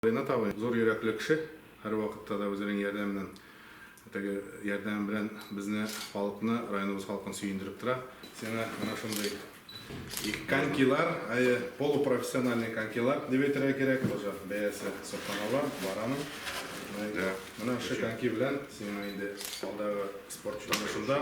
Ринат абый, зур йөрәкле кеше, һәрвакытта да үзенең ярдәменнән, теге ярдәме белән безне, халыкны, районыбыз халкын сөендереп тора. Сиңа менә шундый конькилар, әйе, полупрофессиональный конькилар дип әйтергә кирәк, тоже бәясе сокланыла, бар аның. Менә шушы коньки белән сиңа инде алдагы спорт юнәлешеңдә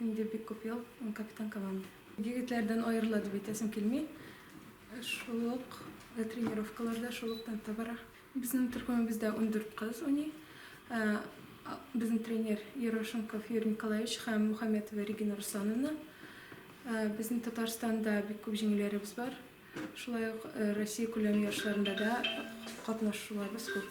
Инде бик күп ел ул капитан команды. Егетләрдән аерыла дип әйтәсем килми. Шул ук тренировкалар да шул ук темпта бара. Безнең төркемебездә ундүрт кыз уйный. Безнең тренер Ерошенков Юрий Николаевич һәм Мухаметова Регина Руслановна. Безнең Татарстанда бик күп җиңүләребез бар. Шулай ук Россия күләм ярышларында да катнашуларыбыз күп.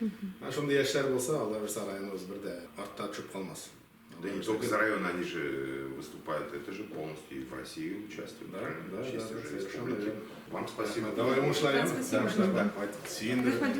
Ә шундый яшьләр булса, алар булса районыбыз бер дә артта төшеп калмас. Да и не только из района, они же э, выступают, это же полностью и в России участвуют, да, да, да, да, совершенно верно. Вам спасибо. Давай, уңышлар, Вам спасибо. Уңышлар, да, хватит. Сиендер.